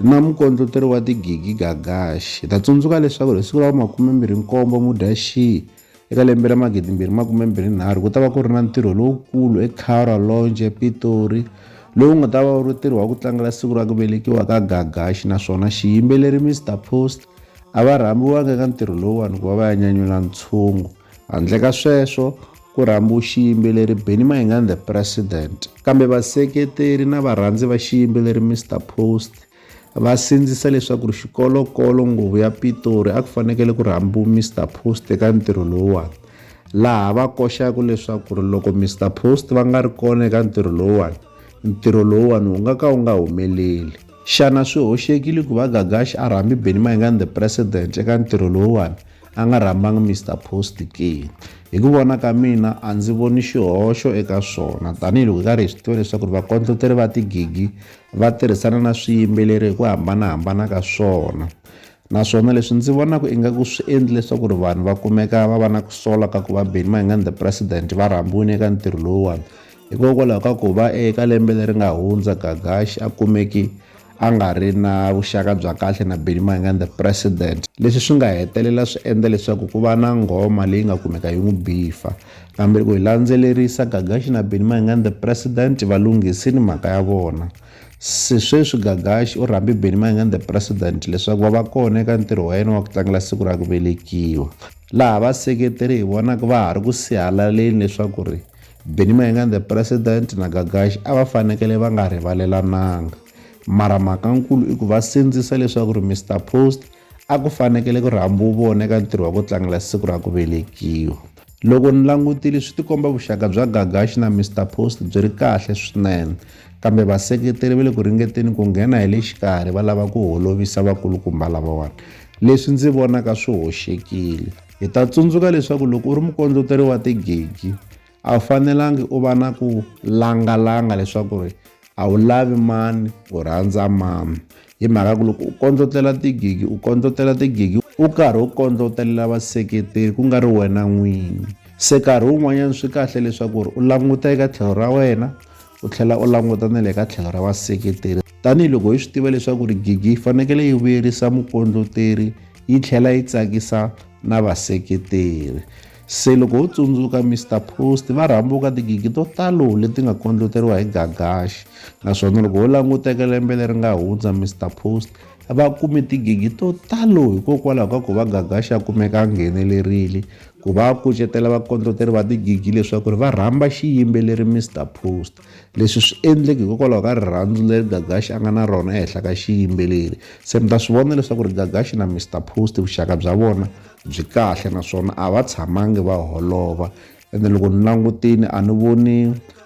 na mukondloteri wa tigigi Gagash. Hi ta tsundzuka leswaku hi siku ra vu-27 Mudyaxihi eka lembe ra 2023 ku ta va ku ri na ntirho lowukulu eCara Lounge ePitori lowu nga ta va wu ri ntirho wa ku tlangela siku ra ku velekiwa ka Gagash naswona xiyimbeleri Mr Post a va rhambiwanga eka ntirho lowuwani ku va va ya nyanyula ntshungu. Handle ka sweswo, ku rhambiwe xiyimbeleri Benny Mayengani The President. Kambe vaseketeri na varhandzi va xiyimbeleri Mister Post va sindzisa leswaku ri xikolokolo nguvu ya Pitori a ku fanekele ku rhambiwe Mister Post eka ntirho lowuwani, laha va koxaka leswaku ri loko Mister Post va nga ri kona eka ntirho lowuwani, ntirho lowuwani wu nga ka wu nga humeleli. Xana swi hoxekile ku va Gagashi a rhambi Benny Mayengani The President eka ntirho lowuwani? a nga rhambanga Mister Post ke? Hi ku vona ka mina a ndzi voni xihoxo eka swona tanihiloko hi karhi hi swi tiva leswaku vakondloteri va tigigi va tirhisana na swiyimbeleri hi ku hambanahambana ka swona naswona leswi ndzi vonaka ingaku swi endli leswaku ri vanhu va kumeka va va na ku sola ka ku va Benny Mayengani the president va rhambiwile eka ntirho lowuwani Hikokwalaho ka ku va eka lembe leri nga hundza Gagashi a kumeke a nga ri na vuxaka bya kahle na Benny Mayengani the President, leswi swi nga hetelela swi endla leswaku ku va na nghoma leyi nga kumeka yi n'wi bifa. Kambe loko hi landzelerisa, Gagashi na Benny Mayengani the President va lunghisile mhaka ya vona. Se sweswi Gagashi u rhambe Benny Mayengani the President leswaku va va kona eka ntirho wa yena wa ku tlangela siku ra ku velekiwa, laha vaseketeri hi vonaka va ha ri ku sihalaleni leswaku ri Benny Mayengani the President na Gagashi a va fanekele va nga rivalelananga. Mara mhakankulu i ku va sindzisa leswaku ri Mister Post a ku fanekele ku ri hambi wu vona eka ntirho wa ku tlangela siku ra ku velekiwa. Loko ni langutile swi tikomba vuxaka bya Gagashi na Mister Post byi ri kahle swinene, kambe vaseketeri va le ku ringeteni ku nghena hi le xikarhi va lava ku holovisa vakulukumba lavawani, leswi ndzi vonaka swi hoxekile. Hi ta tsundzuka leswaku loko u ri mukondleteri wa tigigi a wu fanelangi u va na ku langalanga leswaku ri a wu lavi mani u rhandza mani hi mhaka ku loko u kondlotlela tigigi u kondlotlela tigigi u karhi u kondlotelela vaseketeri ku nga ri wena n'winyi se karhi wun'wanyana swi kahle leswaku ri u languta eka tlhelo ra wena U tlhela u languta na le ka tlhelo ra vaseketeri. Tanihi loko hi swi tiva leswaku ri gigi yi fanekele yi vuyerisa mukondloteri yi tlhela yi tsakisa na vaseketeri. Se loko ho tsundzuka Mister Post va rhambuka tigigi to talo leti nga kondloteriwa hi Gagash naswona loko ho languta eka lembe leri nga hundza Mister Post va kume tigigi to talo hikokwalaho ka ku va Gagash a kumeka a nghenelerile Ku va kucetela vakondloteri va tigigi leswaku ri va rhamba xiyimbeleri Mister Post. Leswi swi endleki hikokwalaho ka rirhandzu leri Gagashi a nga na rona ehenhla ka xiyimbeleri. Se mi ta swi vona leswaku ri Gagashi na Mister Post vuxaka bya vona byi kahle naswona a va tshamangi va holova. Ende loko ni langutini a ni voni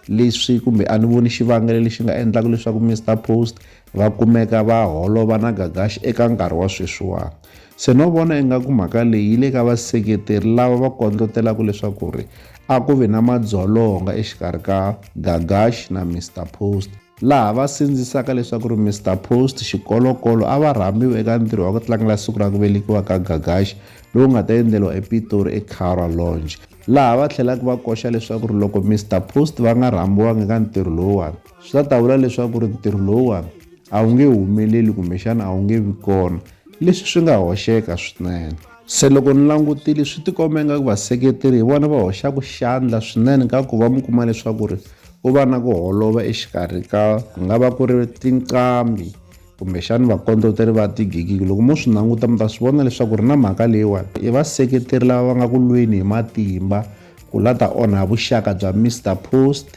leswi kumbe a ni voni xivangelo lexi nga endlaka leswaku Mister Post va kumeka va holova na Gagashi eka nkarhi wa sweswiwani. Se no vona ingaku mhaka leyi yi le ka vaseketeri lava va kondlotelaka leswaku ri a ku vi na madzolonga exikarhi ka Gagash na Mister Post, laha va sindzisaka leswaku ri Mister Post xikolokolo a va rhambiwe eka ntirho wa ku tlangela siku ra ku velekiwa ka Gagash lowu nga ta endleriwa ePitori eCowra Lounge, laha va tlhelaka va koxa leswaku ri loko Mister Post va nga rhambiwanga eka ntirho lowuwani, swi ta ta vula leswaku ri ntirho lowuwani a wu nge humeleli kumbexana a wu nge vi kona leswi swi nga hoxeka swinene se loko ni langutile swi tikomba ingaku vaseketeri hi vona va hoxaka xandla swinene ka ku va mi kuma leswaku ri ku va na ku holova exikarhi ka ku nga va ku ri tinqambi kumbexani vakondloteri va tigigiki loko mo swi languta mi ta swi vona leswaku ri na mhaka leyiwani i vaseketeri lava va nga ku lweni hi matimba ku la ta onha vuxaka bya Mister Post